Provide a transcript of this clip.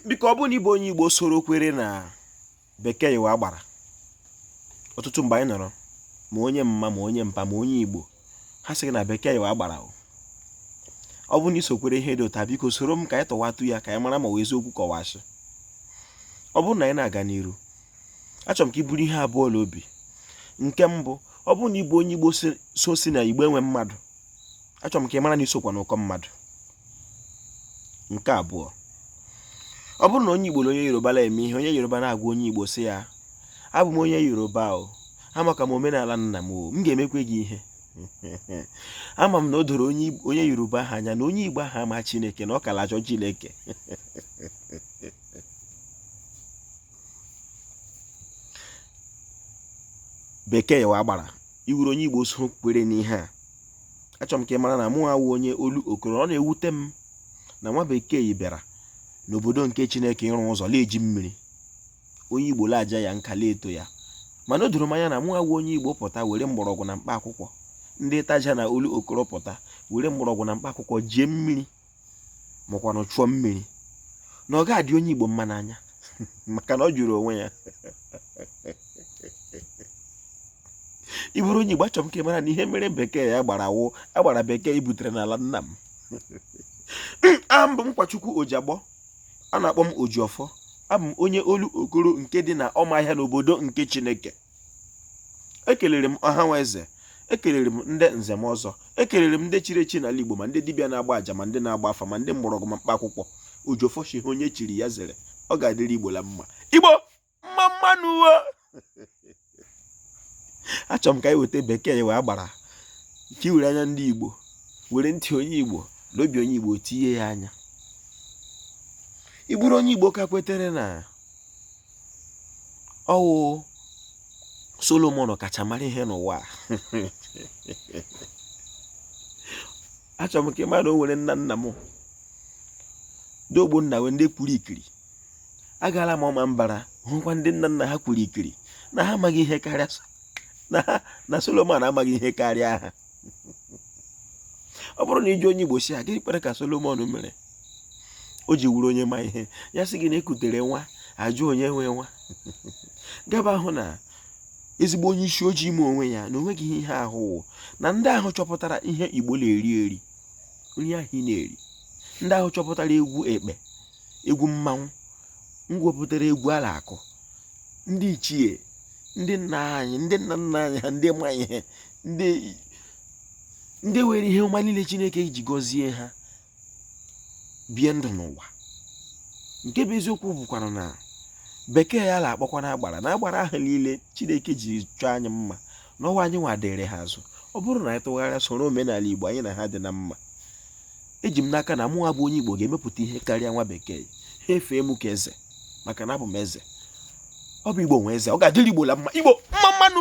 biko ọ bụrụ na ị bụ onye igbo soro kwere na bekee wụ agbara ọtụtụ mgbe anyị nọrọ ma onye mma ma onye mpa ma onye igbo ha sị gị na bekee wụ agbara o ọ bụrụ na i so kwere ihe dị otu a biko soro m ka anyị tọwatụ ya ka anyị mara ma ọ wụ eziokwu ka ọ wụ asị ọ bụrụ na anyị na-aga n'iru achọrọ m ka i buru ihe abụọ n'obi nke mbụ ọ bụrụ na ị bụ onye igbo so sị na igbo enwe mmadụ achọrọ m ka ị mara na i sokwa n'ụkọ mmadụ nke abụọ ọ bụrụ na onye igbo na onye yoruba na-eme ihe onye yoruba na-agwa onye igbo sị ya abụ m onye yoruba o amaka m omenala nna m o m ga-emekwe gị ihe ama m na o doro onye yoruba ahụ anya na onye igbo ahụ ama chineke na ọ ka la-achọ chineke bekee wụ agbara ị wụrụ onye igbo so kwere n'ihe a achọrọ m ka ị mara na mụ awụ onye olokoro ọ na-ewute m na nwa bekee bịara n'obodo nke chineke ịrụ ụzọ la-eji mmiri onye igbo la-aja ya nka la-eto ya mana o doro m anya na mụ awụ onye igbo pụta were mgbọrọgwụ na mkpa akwụkwọ ndị itaja na olokoro pụta were mgbọrọgwụ na mkpa akwụkwọ jie mmiri makwanụ chụọ mmiri na ọ ga-adị onye Igbo mma n'anya maka na ọ jụrụ onwe ya ị bụrụ onye Igbo achọrọ m ka ị mara na ihe mere bekee agbara wụ agbara bekee butere n'ala nna m aha m bụ Nkwachukwu Ojiagbọ a na-akpọ m Ojiọfọ abụ m onye Olokoro nke dị na Ọmaahịa n'obodo nke Chineke ekelere m ọha na eze ekelere m ndị nze na ọzọ ekelere m ndị chiri echi n'ala igbo ma ndị dibịa na-agba aja ma ndị na-agba afa ma ndị mgbọrọgwụ ma mkpa akwụkwọ ojiọfọ shị ha onye chiri ya zere ọ ga-adịrị igbo la mma igbo mma mma nụ wo achọrọ m ka anyị weta bekee wụ agbara ka e were anya ndị igbo were ntị onye igbo na obi onye igbo tinye ya anya ị bụrụ onye igbo ka kwetere na ọ wụ Solomon kacha mara ihe n'ụwa achọrọ m ka ị mara na o nwere nna nna m ndị ogbonna wee ndị kwuru ikiri agaala m Ọmambara hụkwa ndị nna nna ha kwuru ikiri na ha amaghị ihe karịa na Solomon amaghị ihe karịa ha ọ bụrụ na ị jụ onye igbo sị ya gịnị kpere ka solomon mere o ji wụrụ onye ma ihe ya sị gị na e kutere nwa a jụ onye nwe nwa gaba ahụ na ezigbo onye isi ojii ime onwe ya na o nweghị ihe ahụ na ndị ahụ chọpụtara ihe igbo na-eri eri nri ahụ ị na-eri ndị ahụ chọpụtara egwu ekpe egwu mmanwụ ndị wepụtara egwu a la-akụ ndị ichie ndị nna anyị ndị nna nna anyị ha ndị ma ihe ndị ndị were ihe ọma niile chineke ji gọzie ha bie ndụ n'ụwa nke bụ eziokwu bụkwara na bekee a na-akpọkwanụ agbara na agbara ahụ niile chineke ji chọọ anyị mma n'ụwa anyị nwa dịrị ha azụ ọ bụrụ na anyị tụgharịa soro omenala igbo anyị na ha dị na mma eji m n'aka na mụnwa bụ onye igbo ga-emepụta ihe karịa nwa bekee ha efee m ka eze maka na abụ m eze ọ bụ igbo nwe eze ọ ga-adịrị igbo la mma igbo mma mma nụ